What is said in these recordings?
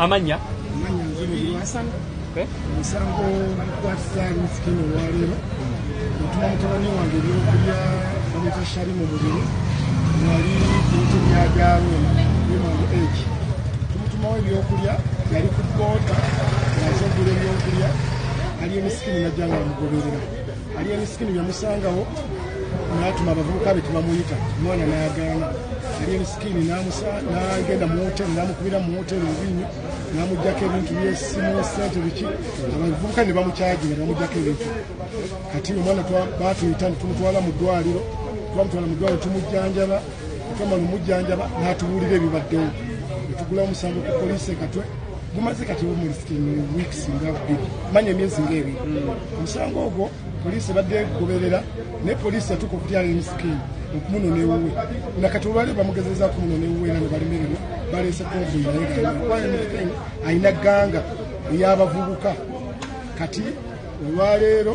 amanya omusango gwatuzaali musikini olwaleero otuma mutabani wange ebyokulya bamwita shali mu mubiri nali bintu byabyaluma bimangu egi tumutumawo ebyokulya yali ku boota naze ogula ebyokulya ali emisikini najja nga bamugoberera Alien Skin yamusangawo n'atuma abavubuka be tebamuyita omwana n'agaana Alien Skin n'agenda mu wooteeri n'amukubira mu wooteeri obubiinyo n'amuggyako ebintu by'essimu ssente biki abavubuka ne bamukyagira bamuggyako ebintu kati omwana baatuyita ne tumutwala mu ddwaliro twamutwala mu ddwaliro tumujjanjaba mukama lumujjanjaba n'atubuulira ebibaddewo etugula omusango ku poliisi ekatwe gumaze kati weeks nga bbiri manya emyezi ng'ebiri omusango ogwo poliisi ebadde egoberera naye poliisi yatuuka okutyala emisikiini okumunona ewuwe nga kati olwali bamugezeza okumunona ewuwe era nebalimererwa baleese konvuyi naye alina ganga eyabavubuka kati olwaleero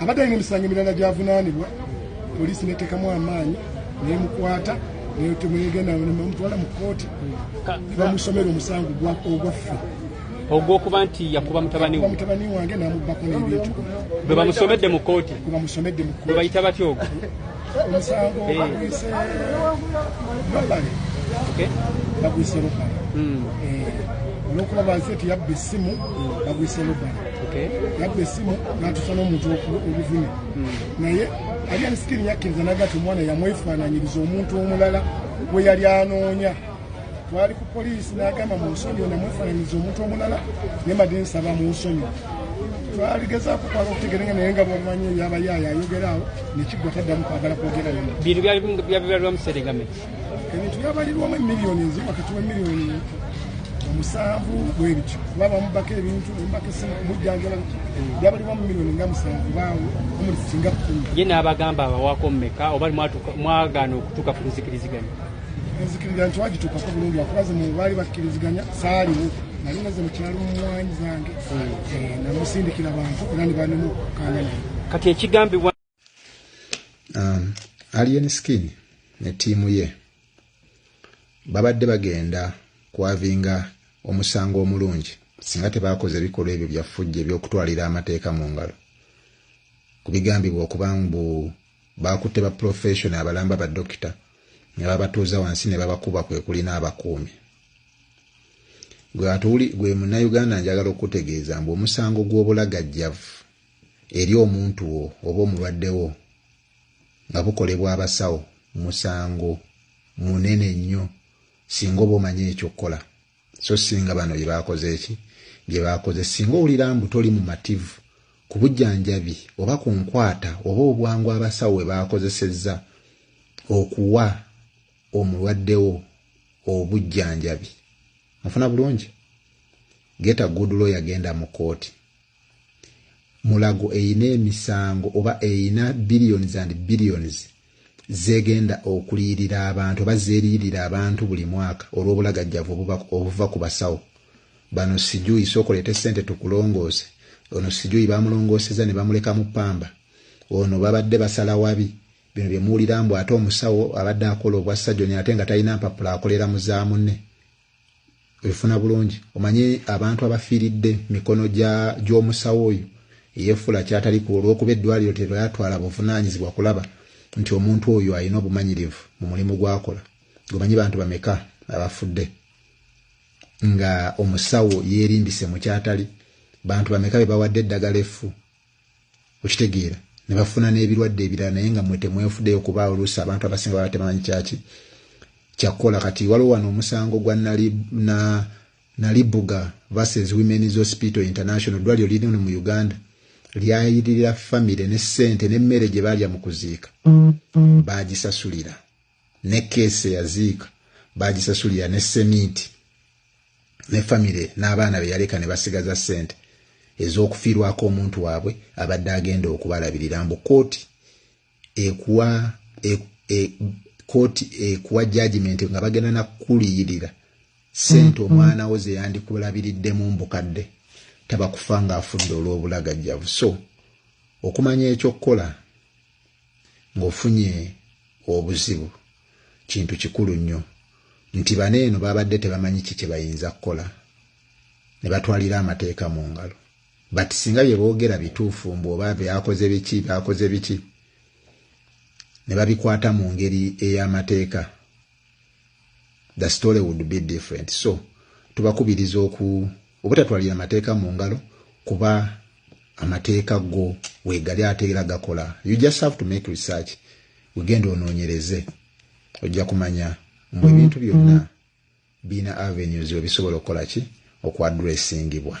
Abadde alina emisango emirala gy'avunaanibwa, poliisi n'eteekamu amaanyi n'emukwata netemwegenda nemutwala mu kkooti nebamusomera omusango ogwaffe ogwokuba nti yakuba mutabani mutabani wange namubbako n'ebintu bwe bamusomedde mu kkooti bwe bamusomedde mu kkooti bwe bayita batya ogwo omusango bagwise nobale bagwise lubale olwokuba bansi eti yabba essimu bagwise lubale yabba essimu natusa n'omuntu obuvune naye alian skin yakkiriza nagati omwana yamwefaananyiriza omuntu omulala gwe yali anoonya twali ku poliisi n'agamba mu nsonyi ona mwefananyiza omuntu omulala naye madi nsaba mu nsonyi twaligezaako kwala okutegere nga naye nga bwamanyi yaba yaaya ayogera awo nekiggwa taddamu kwagala kwogera yona bintu byabibalirwa museregame ebintu byabalirwamu emiliyoni nzi wakati wemiliyoni omusanvu bwebityo kuba bamubako ebintu bamubako esimu kumujjanjala byabalirwa mu miliyoni nga musanvu baawo omuli singa kumi ye n'abagamba abawako mumeka oba mwagaana okutuuka ku luzikiriziganya nzikiriza nti wagituukako bulungi wakuba ze mubaali bakkiriziganya saaliwo nali naze mukyalo mumwanyi zange eh, namusindikira bantu era ne banemu kanga naye kati ekigambibwa um, alien skin ne tiimu ye babadde bagenda kwavinga omusango omulungi singa tebakoze ebikolwa ebyo byafujja ebyokutwalira amateeka mu ngalo ku bigambibwa okuba mbu Baakutte bapulofeeshono abalamba badokita ne babatuuza wansi ne babakuba kwe kuli n'abakuumi. Gwe atuli gwe Munnayuganda njagala okukutegeeza mbu omusango gw'obulagajjavu eri omuntu wo oba omulwadde wo nga bukolebwa abasawo musango munene nnyo singa oba omanyi eky'okukola. so singa bano bye baakoze ki bye baakoze singa owulira mbu toli mumativu ku bujjanjabi oba ku nkwata oba obwangu abasawo bwe baakozesezza okuwa omulwaddewo obujjanjabi mufuna bulungi geta good lawyer genda mu kkooti Mulago erina emisango oba erina billions and billions zegenda okuliyirira abantu oba zeriyirira abantu buli mwaka olw'obulagajjavu obuva ku basawo bano sijuyi sooka oleete sente tukulongoose ono sijuyi bamulongooseza ne bamuleka mu pamba ono babadde basala wabi bino bye muwulira mbu ate omusawo abadde akola obwa sajoni ate nga talina mpapula akolera mu za munne ebifuna bulungi omanyi abantu abafiiridde mikono gy'omusawo oyo eyefuula kyatali ku olw'okuba eddwaliro teryatwala buvunaanyizibwa kulaba nti omuntu oyo alina obumanyirivu mu mulimu gwakola gomanyi bantu bameka abafudde nga omusawo yeerimbise mu kyatali bantu bameka be bawadde eddagala effu okitegeera ne bafuna n'ebirwadde ebirala naye nga mwe temwefudeyo kuba oluusi abantu abasinga baba tebamanyi kyaki kyakukola kati waliwo wano omusango gwa nalibuga versus women's hospital international eddwaliro lirino mu uganda lyayiririra famire ne ssente n'emmere gye baalya mu kuziika baagisasulira ne keesi eyaziika baagisasulira ne seminti ne famire n'abaana be yaleka ne basigaza ssente ez'okufiirwako omuntu waabwe abadde agenda okubalabirira mbu kooti ekuwa e, e, kooti ekuwa jajimenti nga bagenda nakukuliyirira ssente mm-hmm. omwana wo ze yandikulabiriddemu mbukadde taba kufa ng'afudde olw'obulagajjavu so okumanya ekyokukola ng'ofunye obuzibu kintu kikulu nnyo nti bano eno baabadde tebamanyi ki kye bayinza kukola ne batwalira amateeka mu ngalo but singa bye boogera bituufu mbu oba byakoze biki byakoze biki ne babikwata mu ngeri ey'amateeka the story would be different so tubakubiriza oku obutatwalira amateeka mu ngalo kuba amateeka go wegali ate era gakola you just have to make research wegenda onoonyereze ojja kumanya mbu ebintu byonna birina avenues webisobola okukola ki okuadressingibwa